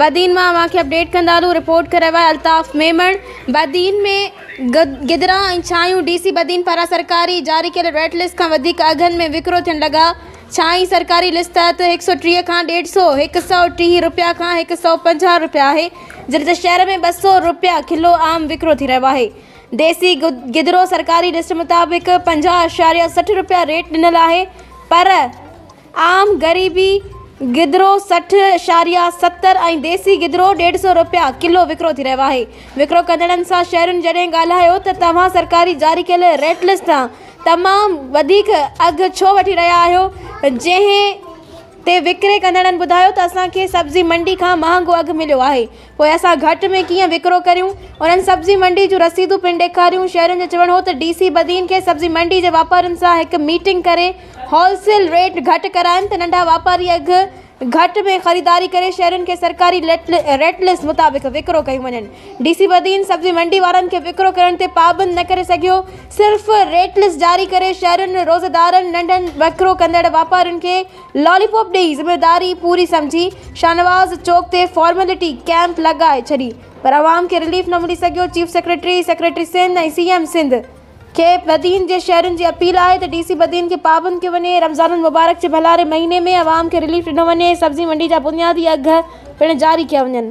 بدين مان اوهان کي اپڊيٽ ڪندارون رپورٽ ڪري ويا الطاف ميمڻ بدين ۾ گدرا ۽ ڇانيون ڊي سي بدين پاران سرڪاري جاري ڪيل ريٽ لسٽ کان وڌيڪ اگهن ۾ وڪرو ٿين لڳا ڇاني سرڪاري لسٽ تحت هڪ سؤ ٽيهه کان ڏيڍ سؤ هڪ سؤ ٽيهه رپيا کان هڪ سؤ پنجاهه رپيا آهي جڏهن ته شهر ۾ ٻه سؤ رپيا ڪلو عام وڪرو ٿي رهيو آهي ديسي گدرو سرڪاري لسٽ مطابق پنجاهه اعشاريه سٺ روپيا ريٽ ڏنل آهي پر عام غريبي گدرو سٺ اعشاريه ستر ۽ ديسي گدرو ڏيڍ سئو روپيا ڪلو وڪرو ٿي رهيو آهي وڪرو ڪندڙن سان شهرين جڏهن ڳالهايو ته توهان سرڪاري جاري ڪيل ريٽ لسٽ تان تمام وڌيڪ اگهه ڇو وٺي رهيا آهيو جنهن تي وڪري ڪندڙن ٻڌايو ته اسان کي سبزي منڊي کان مهانگو اگهه مليو آهي پوء اسان گهٽ ۾ ڪيئن وڪرو ڪريون؟ انهن سبزي منڊي جون رسيدون پڻ ڏيکاريون. شهرين جو چوڻ هو ته ڊي سي بدين کي سبزي منڊي جي واپارين سان هڪ ميٽنگ ڪري هول سيل ريٽ گهٽ ڪرائين ته ننڍا واپاري اگهه گهٽ ۾ خريداري ڪري شهرين کي سرڪاري ريٽ لسٽ مطابق وڪرو ڪيون وڃن. ڊي سي بدين سبزي منڊي وارن کي وڪرو ڪرڻ تي پابند نه ڪري سگهيو صرف ريٽ لسٽ جاري ڪري شهرين روزيدارن ننڍن وڪرو ڪندڙ واپارين کي لالي پوپ ڏيئي ذميواري پوري سمجهي شاهنواز چوڪ تي فارملٽي ڪئمپ لڳائي ڇڏي پر عوام کي رليف نه ملي سگهيو chief secretary secretary Sindh ۽ C M Sindh کي بدين جي شهرين جي اپيل آهي ته ڊي سي بدين کي پابند ڪيو وڃي رمضان المبارڪ جي ڀلاري مهيني ۾ عوام کي رليف ڏنو وڃي سبزي منڊي جا بنيادي اگهه پڻ جاري ڪيا وڃن.